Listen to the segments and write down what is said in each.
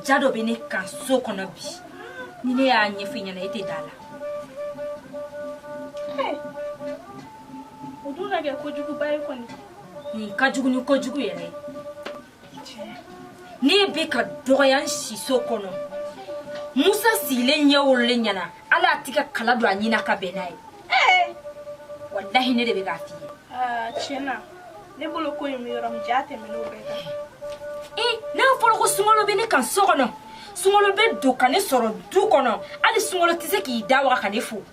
ja dɔ bɛ ne kan so kɔnɔ bi ni ne y'a ɲɛfɔ i ɲɛna e tɛ d'a la o dun na kɛ kojuguba ye kɔni nin ka jugu ni kojugu yɛrɛ ne bɛ ka dɔgɔya n siso kɔnɔ musa sigilen ɲɛ wololen ɲɛna ala a tɛ ka kala don a ɲina ka bɛn n'a ye eh! walahi ne de bɛ k'a f'i ye ah, tiɲɛ na ne bolo ko in bɛ yɔrɔ min jaa tɛmɛn'o bɛɛ kan ee eh, n'a fɔra ko sunkalo bɛ ne kan so kɔnɔ sunkalo bɛ don ka ne sɔrɔ du kɔnɔ hali sunkalo tɛ se k'i da waga ka ne fo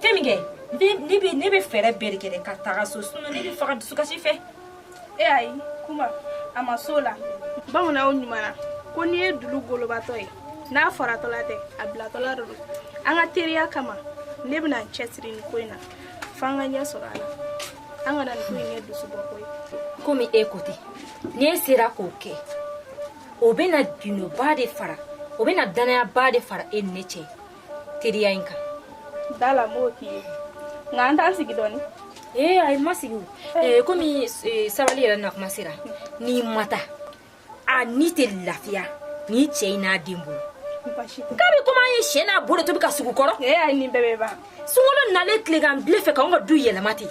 ten minkɛ ne bɛ ne bɛ fɛɛrɛ bɛɛ de kɛ ka taga so sinɔn ne bɛ faga dusukasi fɛ e ayi kuma a ma s'o la bamananw ɲuman ko n'i ye dulu golobatɔ ye n'a faratɔla tɛ a bilatɔla de don an ka teriya kama ne bɛna n cɛsiri nin ko in na fo an ka ɲɛ sɔrɔ a la an kana nin ko in kɛ dusubɔko ye komi e ko ten n'e sera k'o kɛ o bɛna ginoba de fara o bɛna danayaba de fara e ni ne cɛ teriya in kan d'a la n b'o k'i ye nka an t'an sigi dɔɔni ee ayi ma sigi o ee komi sabali yɛrɛ nakuma sera n'i ma taa a ni tɛ lafiya ni cɛ in n'a den bolo k'a bɛ komi an ye sen n'a bolo to bi ka sugu kɔrɔ ee ayi nin bɛɛ bɛ ban sunkalo nalen tilegan bile fɛ k'anw ka du yɛlɛma ten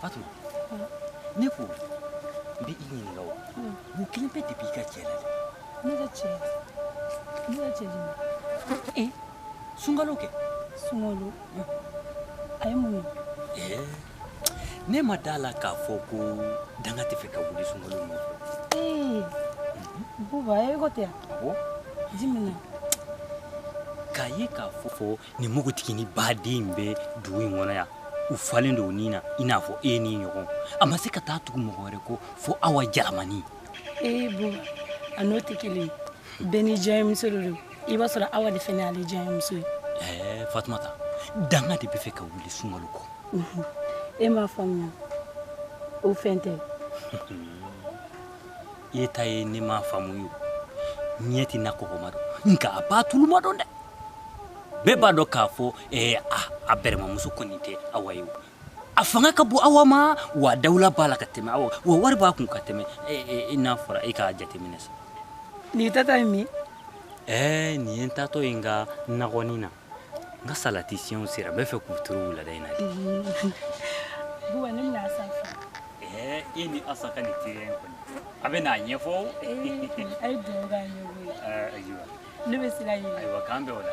Fatuma ne ko n bɛ i ɲininka o mun kelenpe de b'i ka cɛ la ne ka cɛ ne ka cɛ jumɛn ee sunkalo kɛ sunkalo a ye mun ye ne ma d'a la k'a fɔ ko danga tɛ fɛ ka wuli sunkalo nɔfɛ ee buba e ko tɛ yan jimina k'a ye k'a fɔ fɔ nin npogotiginin baden bɛ dugu in kɔnɔ yan u falen don ni na i n'a fɔ e ni ɲɔgɔn a ma se ka taa tugu mɔgɔ wɛrɛ kɔ fo awa jalamani ee bo a n'o tɛ kelen bɛɛ n'i diyanyemuso de don i b'a sɔrɔ awa de fɛnɛ ale diyanyemuso ye ɛɛ fatumata danga de bɛ fɛ ka wuli sunkalo kɔ mhm. e m'a faamuya o fɛn tɛ e ta ye ne m'a faamu ye ɲɛ tɛ na kɔkɔma dɔn nka a b'a tuluma dɔn dɛ bɛɛ b'a dɔn k'a fɔ eh, a a bɛrɛmamuso kɔni tɛ awa ye a fanga ka bon awa ma wa dawula b'a la ka tɛmɛ awa wa wari b'a kun ka tɛmɛ eh, eh, i n'a fɔra e k'a jateminɛ sa nin taatɔ ye min ɛɛ nin ye n taatɔ ye n ka nakɔnin na n ka salati siyɛnw sera n b'a fɛ k'u turu wulada in na dɛ buwa ne bɛna asa fo eh, e ni asa ka nin teriya in kɔni a bɛ n'a ɲɛfɔ a ye dugawu kɛ ɲɔgɔn ye eh, ayiwa ne bɛ sira ɲini ayiwa k'an bɛn wula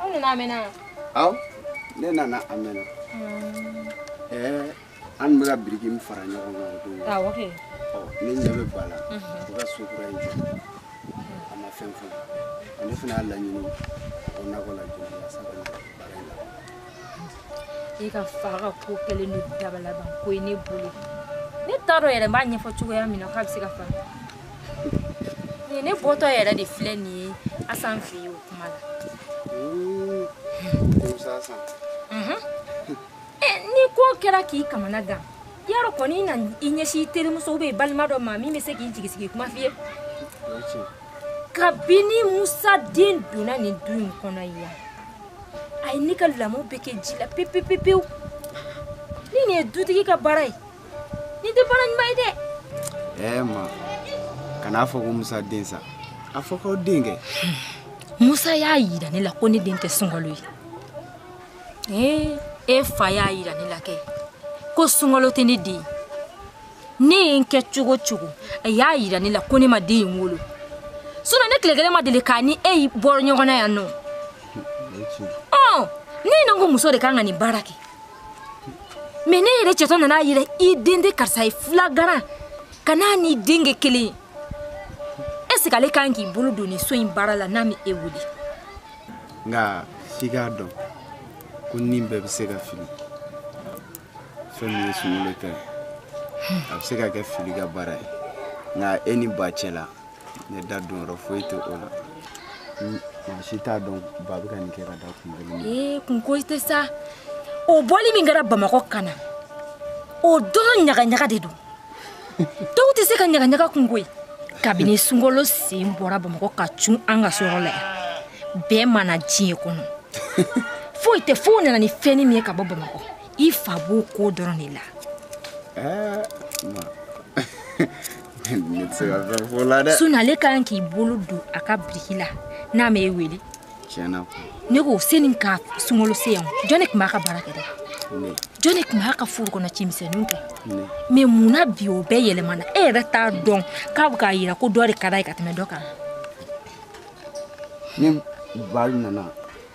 aw nana a mɛnna yan aw ne nana a mɛnna ɛɛ an bɛ ka biriki min fara ɲɔgɔn kan o don awɔ kɛ ɔ ne ɲɛ bɛ ba la o ka so kura in jɔ a ma fɛn fɔ ne fana y'a laɲini o nakɔ la jɔ la sabu ne ka baara in la i ka fa ka ko kɛlen don dabalaban ko ye ne bolo ne t'a dɔn yɛrɛ n b'a ɲɛfɔ cogoya min na k'a bɛ se ka faamu ne bɔtɔ yɛrɛ de filɛ nin ye asan fɛ yen o kuma la mhm. eh, ni ko kɛra k'i kamana gan yarɔ kɔni na i ɲɛsin i terimuso ou bien i balima dɔ ma min bɛ se k'i jigisigi kuma f'i ye kabini musa den donna nin du in kɔnɔ yan a ye ne ka lamɔ bɛɛ kɛ ji la pepepepewu ni nin ye dutigi ka baara ye Nin tɛ baara ɲuman ye dɛ. Ɛɛ eh, ma kan'a fɔ ko Musa den sa a fɔ k'aw den kɛ. Musa y'a yira ne la ko ne den tɛ sunkalo ye. Ee eh, e fa y'a yira ne la kɛ ko sunkalo tɛ ne den ne ye n kɛ cogo o cogo a y'a yira ne la ko ne ma den in wolo sinon ne tile kelen ma deli k'a ni e bɔra ɲɔgɔn na yan nɔ ɔ ne ɲɛ na ko muso de kan ka nin baara kɛ mais ne yɛrɛ cɛtɔ nana a yira i den tɛ karisa ye fila garan ka n'a ni den kɛ kelen ye est-ce que ale kan k'i bolo don nin so in baara la n'a ma e wele nka f'i k'a dɔn ko nin bɛɛ bɛ se ka fili fɛn min ye sunkalo ta ye a bɛ se ka kɛ fili ka baara ye nka e ni ba cɛ la ne da don yɔrɔ foyi tɛ o la maa si t'a dɔn ba bɛ ka nin kɛ ka da kun kelen ee kunko tɛ sa o bɔli min kɛra bamakɔ ka na o dɔrɔn ɲagaɲaga de don dɔw tɛ se ka ɲagaɲaga kun koyi kabini sunkalo sen bɔra bamakɔ ka cun an ka sɔrɔ la yan bɛɛ mana diɲɛ kɔnɔ foyi tɛ fo u nana ni fɛnnin min ye ka bɔ bamakɔ i fa b'o ko dɔrɔn de la sinon ale ka kan k'i bolo don a ka biriki la n'a ma e wele ne ko seni ka sunkalo se yan jɔn de tun b'a ka baara kɛ dɛ jɔn de tun b'a ka foro kɔnɔ cimisɛnninw kɛ mais mun na bi o bɛɛ yɛlɛmana e yɛrɛ t'a dɔn k'a bɛ k'a yira ko dɔ de ka d'a ye ka tɛmɛ dɔ kan ni bari nana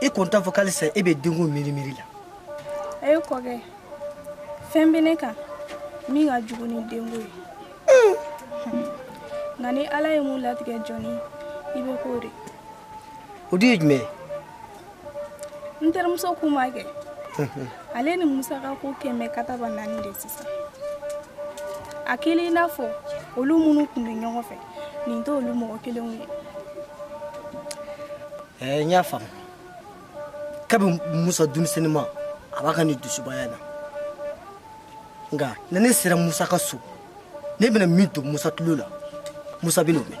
i kun t'a fɔ k'ale sa e bɛ denko miiri miiri la ayi kɔkɛ fɛn bɛ ne kan min ka jugu ni denko ye nka ni ala ye mun latigɛ jɔni i bɛ k'o de o dun ye jumɛn ye n terimuso kuma kɛ ale ni musa ka ko kɛmɛ kataba naani de sisan a kɛlen i n'a fɔ olu minnu tun bɛ ɲɔgɔn fɛ nin tɛ olu mɔgɔ kelenw ye eh, n y'a faamu kabi musa denmisɛnnin ma a b'a ka nin dusubaya na nka ni ne sera musa ka so ne bɛna min to musa tulo la musa bɛn'o mɛn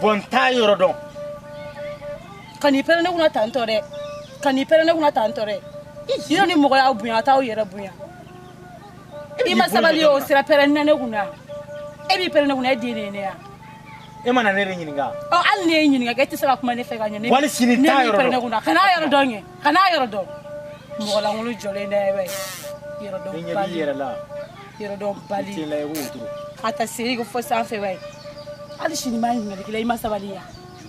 bɔn n t'a yɔrɔ dɔn kan'i pɛrɛn ne kunna tantɔ dɛ kan'i pɛrɛn ne kunna tantɔ dɛ yɔrɔ ni mɔgɔ y'aw bonya a t'aw yɛrɛ bonya i ma sabali o sira pɛrɛn na ne kunna e b'i pɛrɛn ne kunna e den de ye ne ya e ma na ne de ɲininka ɔ hali ne ye ɲininka kɛ e tɛ se ka kuma ne fɛ ka ɲɛ ne hali sini t'a yɔrɔ dɔn e b'i pɛrɛn ne kunna kana a yɔrɔ dɔn kɛ kan'a yɔrɔ dɔn mɔgɔ lankolon jɔlen dɛ bɛ yɔrɔ dɔn bali ɲɛ b'i yɛrɛ la yɔrɔ dɔn bali tɛ la i b'o turu a ta seri ko fo sanfɛ bɛ hali sini ma ɲininkali k'i la i ma sabali yan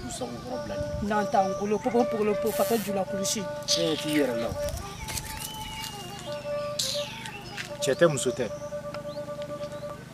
sago kɔrɔ bila ni n'an t'an golo pogo pogolo po fatɔ jula kulusi tiɲɛ t'i yɛrɛ la cɛ tɛ muso tɛ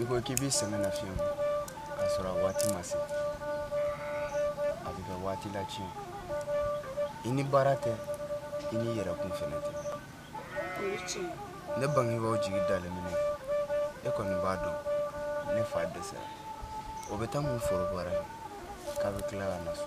i ko k'i b'i sɛgɛn lafiɲɛ bɔ k'a sɔrɔ a waati ma se a bɛ kɛ waati latiɲɛ i ni baara tɛ i ni yɛrɛ kun fɛnɛ tɛ ne bangebaaw jigi dalen bɛ ne kan e kɔni b'a dɔn ne fa dɛsɛra o bɛ taa mun foro baara k'a bɛ tila ka na so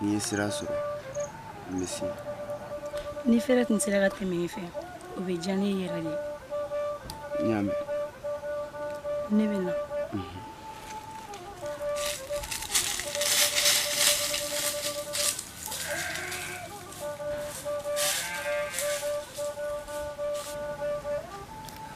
n'i ye sira sɔrɔ n bɛ se ni fɛrɛ tun sera ka tɛmɛ ne fɛ o bɛ diya ne ye yɛrɛ de n y'a mɛn ne bɛ na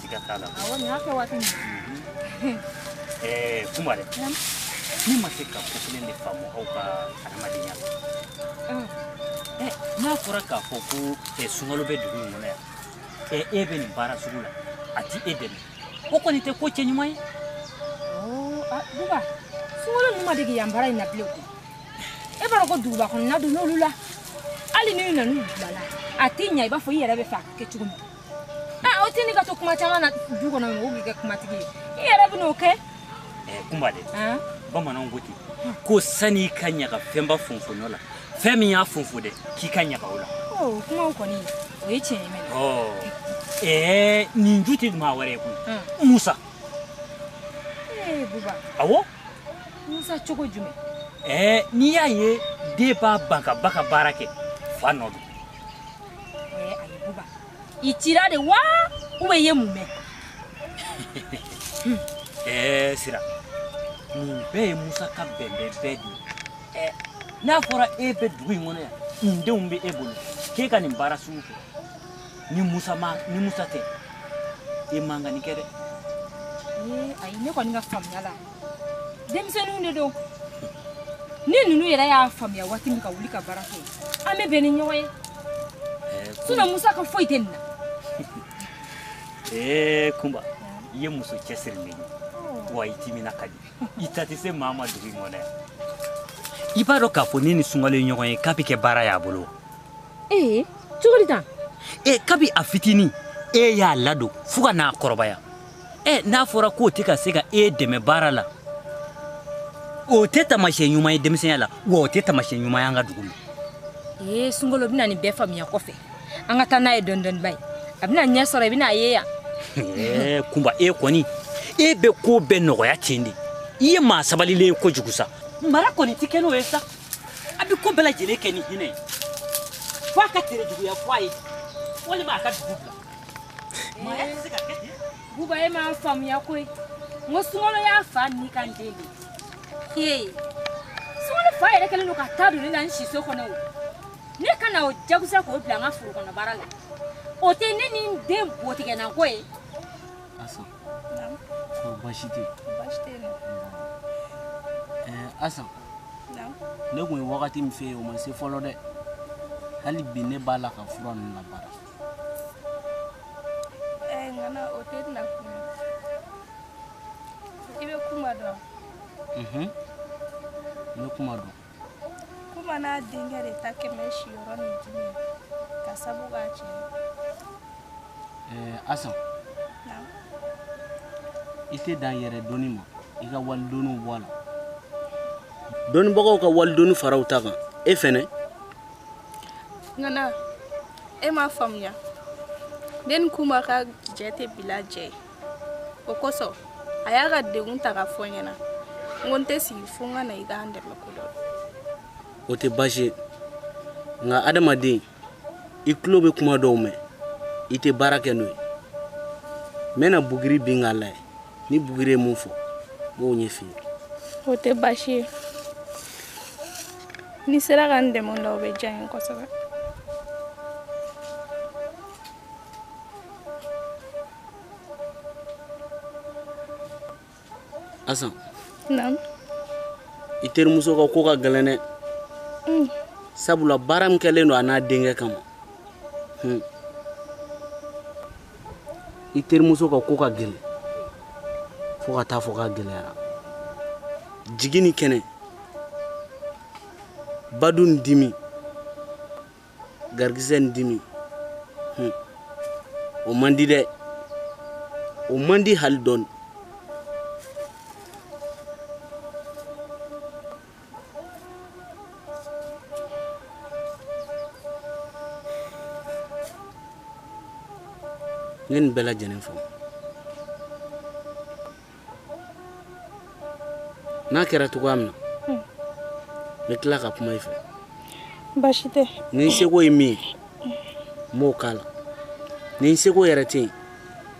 siga t'a la awɔ nin y'a kɛ waati min mhm. eh, kuma dɛ ne ma se ka ko kelen de faamu aw ka adamadenya la mm. eh, n'a fɔra k'a fɔ ko eh, sungurun bɛ dugu in kɔnɔ yan e bɛ nin baara sugu la a ti e dɛmɛ o kɔni tɛ ko cɛ ɲuman ye oh, ah, buba sungurun ninnu ma dege yan baara in na bilen koyi e b'a dɔn ko duguba kɔnɔna don n'olu la hali n'u nana n'u bilala a tɛ ɲa i b'a fɔ i yɛrɛ bɛ fɛ a ka kɛ cogo min Ah, o tɛ ne ka to kuma caman na du kɔnɔ mɔgɔw b'i kɛ kumatigi ye i yɛrɛ bɛ n'o kɛ Eh, kunba dɛ han? bamananw ko ten ko sani i ka ɲaga fɛnba fonfonɔ la fɛn min y'a fonfo dɛ k'i ka ɲaga o la o kumaw kɔni o ye tiɲɛ ye mɛ ɔ ɛɛ nin ju tɛ maa wɛrɛ ye koyi han. musa ee buba awɔ musa cogo jumɛn ɛɛ n'i y'a ye den b'a ban k'a ba ka baara kɛ fa nɔ don i cira de wa ou bien i ye mun mɛn ɛɛ sira nin bɛɛ ye musa ka bɛnbɛn bɛɛ de ye eh, n'a fɔra e bɛ dugu in kɔnɔ yan nin denw bɛ e bolo k'e ka nin baara sugu kɛ ni musa ma ni musa tɛ e man ka nin kɛ dɛ ayi ne kɔni ka faamuya la denmisɛnninw de don ni ninnu yɛrɛ y'a faamuya waati min ka wuli ka baara kɛ an bɛ bɛn ni ɲɔgɔn ye sinon musa ka foyi tɛ nin na ee kunba i ye muso cɛsirilen ye wa i timina ka di i ta tɛ se maa ma dugu in kɔnɔ yan i b'a dɔn k'a fɔ ne ni sunkalo ye ɲɔgɔn ye k'a bɛ kɛ baara y'a bolo ee cogo di tan ee kabi a fitinin e y'a ladon fo ka n'a kɔrɔbaya ɛ n'a fɔra k'o tɛ ka se ka e dɛmɛ baara la o tɛ taamasiyɛn ɲuman ye denmisɛnya la wa o tɛ taamasiyɛn ɲuman ye an ka dugu la ee sunkalo bɛna nin bɛɛ faamuya kɔfɛ an ka taa n'a ye dɔɔni dɔɔni ba ye a bɛna ɲɛ sɔrɔ i bɛna a ye yan ɛɛ kunba e kɔni e bɛ ko bɛɛ nɔgɔya ten de i ye maa sabalilen ye kojugu sa mara kɔni tɛ kɛ n'o ye sa a bɛ ko bɛɛ lajɛlen kɛ ni hinɛ ye fo a ka terejuguya fɔ a ye walima a ka dugu bila buba e m'a faamuya koyi n ko sunkalo y'a fa nikanden de ye sunkalo fa yɛrɛ kɛlen don ka taa don ne la n siso kɔnɔ o ne ka na o jagoya sa k'o bila an ka foro kɔnɔ baara la o tɛ ne ni n den botigɛnako ye asan baasi tɛ asan ne tun ye wagati min fɔ i ye o ma se fɔlɔ dɛ hali bi ne b'a la ka fura ninnu labaara eh, ŋana o tɛ na kuma i bɛ kuma dɔn mhm. n bɛ kuma dɔn kuma n'a denkɛ de ta kɛmɛ siyɔrɔ ni dimi ka sabu k'a cɛ eh, asan i tɛ dan yɛrɛdɔnni ma i ka walidɔnniw bɔ a la dɔnnibagaw ka walidɔnni fara u ta kan e fɛnɛ ŋana e m'a faamuya ne ni kuma ka jɛ tɛ bila jɛ ye o kosɔn a y'a ka degun ta k'a fɔ n ɲɛna n ko n tɛ sigi fo n ka na i k'an dɛmɛ ko dɔ o tɛ baasi ye nka adamaden i tulo bɛ kuma dɔw mɛn i tɛ baara kɛ n'o ye n bɛna buguri bin k'a lajɛ ni buguri ye mun fɔ n b'o ɲɛfɔ i ye o tɛ baasi ye n'i sera ka n dɛmɛ o la o bɛ diya n ye kosɛbɛ asan naamu i terimuso ka ko ka gɛlɛn dɛ mm. sabula baara min kɛlen don a n'a denkɛ kama hmm. i terimuso ka ko ka gɛlɛn fo ka taa fɔ k'a gɛlɛyara jigi ni kɛnɛ badu ni dimi garikisɛ ni dimi hmm. o man di dɛ o man di hali dɔɔni ne nin bɛɛ lajɛlen fɔ n'a kɛra cogoya min na hmm. n bɛ tila ka kuma i fɛ baasi tɛ ni n seko ye min ye n b'o k'a la ni n seko yɛrɛ tɛ yen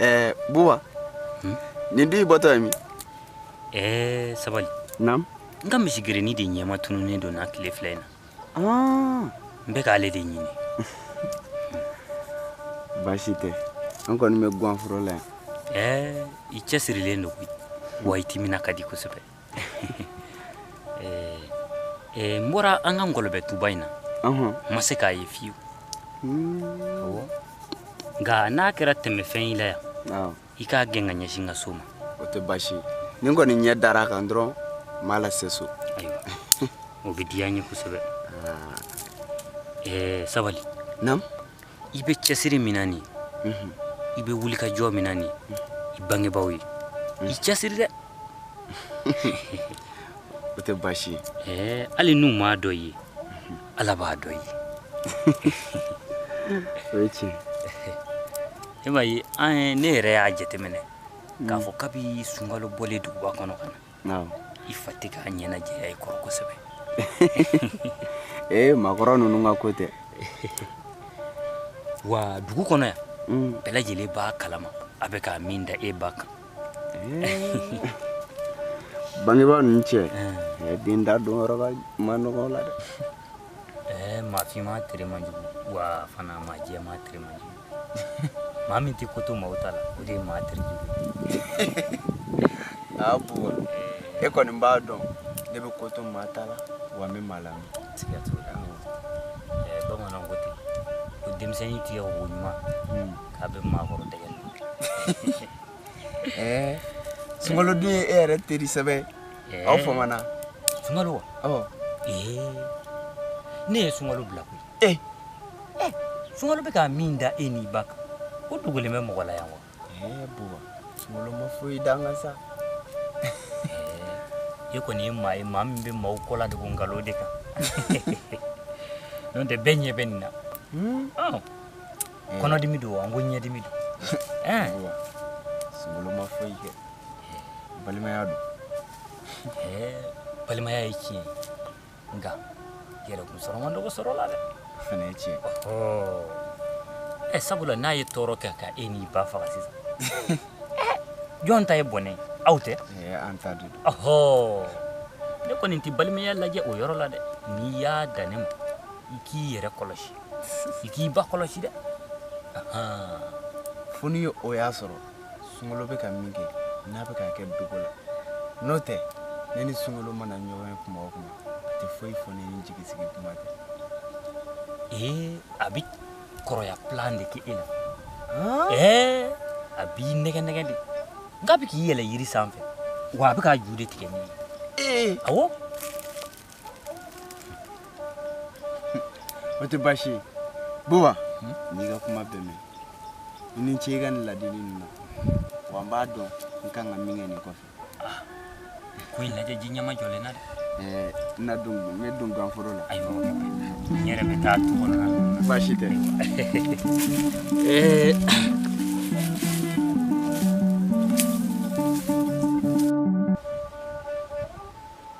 ɛɛ buba hmm? nin dun i bɔtɔ ye min ɛɛ sabali naamu n ka misigerennin de ɲɛmatununnen don n na tile fila in na ah. n bɛ k'ale de ɲini baasi tɛ an kɔni bɛ guwanforo la yan ɛɛ i cɛsirilen don koyi wa i timina ka di kosɛbɛ eh, eh, n bɔra an ka ngɔlɔbɛ tuba in na n ma se k'a ye fiyewu hmm. nka n'a kɛra tɛmɛfɛn y'i la yan i k'a gɛn k'a ɲɛsin n ka so ma o tɛ baasi ye ni n kɔni ɲɛ dara a kan dɔrɔn n b'a lase so ayiwa o bɛ diya n ye kosɛbɛ ah. eh, sabali naamu i bɛ cɛsiri min na nin i bɛ wulikajɔ min na nin i bangebaaw ye i cɛsiri dɛ o tɛ baasi ye hali n'u m'a dɔn i ye ala b'a dɔn i ye o ye tiɲɛ e m'a ye an ne yɛrɛ y'a jateminɛ k'a fɔ kabi sunkalo bɔlen duguba kɔnɔ ka na Awɔ. i fa tɛ k'a ɲɛnajɛya i kɔrɔ kosɛbɛ ee maakɔrɔ ninnu ka ko tɛ wa dugu kɔnɔ yan Mm. bɛɛ lajɛlen b'a kalama a bɛ ka min da e ba kan bangebaa ninnu cɛ eh, den da don yɔrɔ ka ma nɔgɔ la dɛ ɛɛ maafinman tere man jugu wa fana maajɛman tere man jugu maa min tɛ ko to maaw ta la o de ye maa tere jugu aa buwa e kɔni b'a dɔn ne bɛ ko to maa ta la wa n bɛ maa lamɛn siga t'o la bamananw ko ten ko denmisɛnnin tigɛ ko ɲuman k'a bɛ maakɔrɔ dɛgɛ la ɛɛ sunkalo dun ye e yɛrɛ teri sɛbɛ aw famana sunkalo wa ee ne ye sunkalo bila koyi ee eh, sunkalo bɛ ka min da e n'i ba kan o dogolen bɛ mɔgɔ la yan wa ee buwa sunkalo ma foyi d'an kan sa e kɔni ye maa ye maa min bɛ maaw kɔ ladogo nkalon de kan n'o tɛ bɛɛ ɲɛ bɛ nin na hmm? kɔnɔdimi don wa n ko ɲɛdimi don sunkalo ma foyi kɛ balimaya don balimaya ye tiɲɛ ye nka yɛrɛkun sɔrɔ man dɔgɔ sɔrɔ la dɛ o fana ye tiɲɛ ye eh, sabula n'a ye tɔɔrɔ kɛ ka e n'i ba faga sisan eh, jɔn ta ye bɔnɛ aw tɛ eh, an ta don ɔhɔ ne kɔni tɛ balimaya lajɛ o yɔrɔ la dɛ n'i y'a dan ne ma i k'i yɛrɛ kɔlɔsi i k'i ba kɔlɔsi dɛ fo ni o y'a sɔrɔ sunkalo bɛ ka min kɛ n'a bɛ k'a kɛ dogo la n'o tɛ ne ni sunkalo mana ɲɔgɔn ye kuma o kuma a tɛ foyi fɔ ne ni jigisigi kuma tɛ ee a bɛ kɔrɔya plan de kɛ e la ɛɛ a b'i nɛgɛ nɛgɛ de nka a bɛ k'i yɛlɛ yiri sanfɛ wa a bɛ k'a ju de tigɛ nin ye ee awɔ o tɛ baasi ye buwa n y'i ka kuma bɛɛ mɛn i ni ce i ka nin ladili ninnu na wa n b'a dɔn n kan ka min kɛ nin kɔfɛ ko in lajɛ ji ɲɛmajɔlen na dɛ ɛɛ n na don n bɛ don ganforo la ayiwa n yɛrɛ bɛ taa tu kɔnɔ na baasi tɛ ɛɛ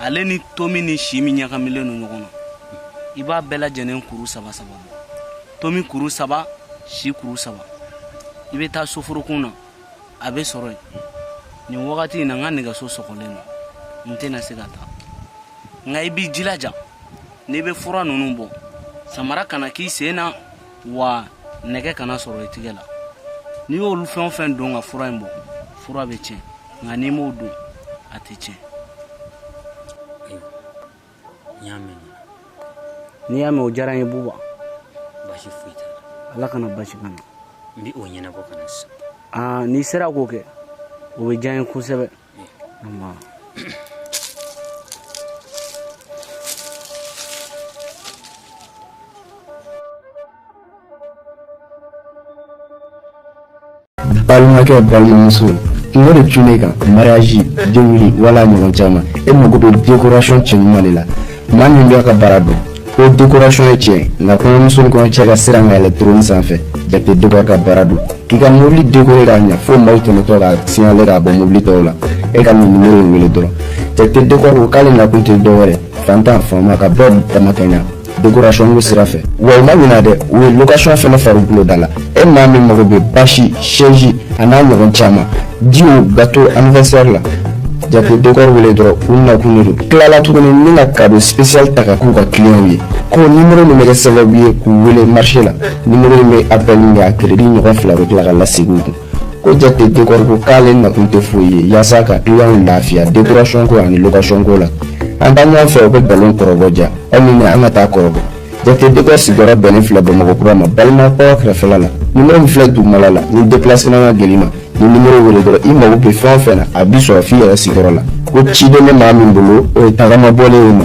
ale ni tomi ni si min ɲagamilen don ɲɔgɔn na i b'a bɛɛ lajɛlen kuru saba saba bɔ tomi kuru saba si kuru saba i bɛ taa soforokun na a bɛ sɔrɔ yen nin wagati in na n ka nɛgɛso sɔgɔlen don n tɛna se ka taa nka i b'i jilaja n'i bɛ fura ninnu bɔ samara kana k'i sen na wa nɛgɛ kana sɔrɔ i tigɛ la n'i y'olu fɛn o fɛn don ka fura in bɔ fura bɛ tiɲɛ nka n'i m'o don a tɛ tiɲɛ n y'a mɛn n'i y'a mɛn o diyara n ye buba basi foyi t'a la ala kana basi kana n bɛ o ɲɛnabɔ ka na sisan n'i sera k'o kɛ o bɛ diya n ye kosɛbɛ balimakɛ balimamuso kunko de cunna e kan mariage denwuli wala ɲɔgɔn caman e mago bɛ décoration cɛɲuman de la maa min b'a ka baara dɔn ko décoration ye tiɲɛ nka kɔɲɔmuso ni kɔɲɔcɛ ka siran ka yɛlɛn trône sanfɛ jate décor ka baara don k'i ka mobili décorer k'a ɲɛ fo maaw tɛmɛtɔ ka signaler k'a bɔ mobili tɔw la e ka nin numéro in wele dɔrɔn jate décor ko k'ale nakun tɛ dɔ wɛrɛ fantan faama ka bɛɛ damakɛɲɛ décoration ko sira fɛ wa u ma ɲinɛ dɛ u ye location fɛnɛ fara u bolo da la e maa min mago bɛ bâche chaise a n'a ɲɔgɔn caman Ji bato anvsari la ja dɔgɔ wele dɔrɔn u na kun tilala tuguni min na ka sisali ta ka k'u ka kiw ye ko ni muru min bɛ sababu ye k'u wele mari la ni bɛ a bɛ min a kelen ni ɲɔgɔn fila bɛ tila ka lase kun ko jate dɔgɔ k'ale na tun tɛ foyi ye yaasa ka kiw lafiya dekuracko ani kasonko la an ka ɲɔgɔn fɛ u bɛ balo kɔrɔbɔ ja aw an ka taa kɔrɔ Jate décor sigiyɔrɔ bɛnnen filɛ bamakɔ kura ma balimakɔ kɛrɛfɛ la numéro min filɛ duguma la ni déplacement ka gɛlɛn i ma nin numéro wele dɔrɔn i mago bɛ fɛn o fɛn na a bɛ sɔrɔ f'i yɛrɛ sigiyɔrɔ la ko ciden bɛ maa min bolo o ye tagama bɔlen y'i ma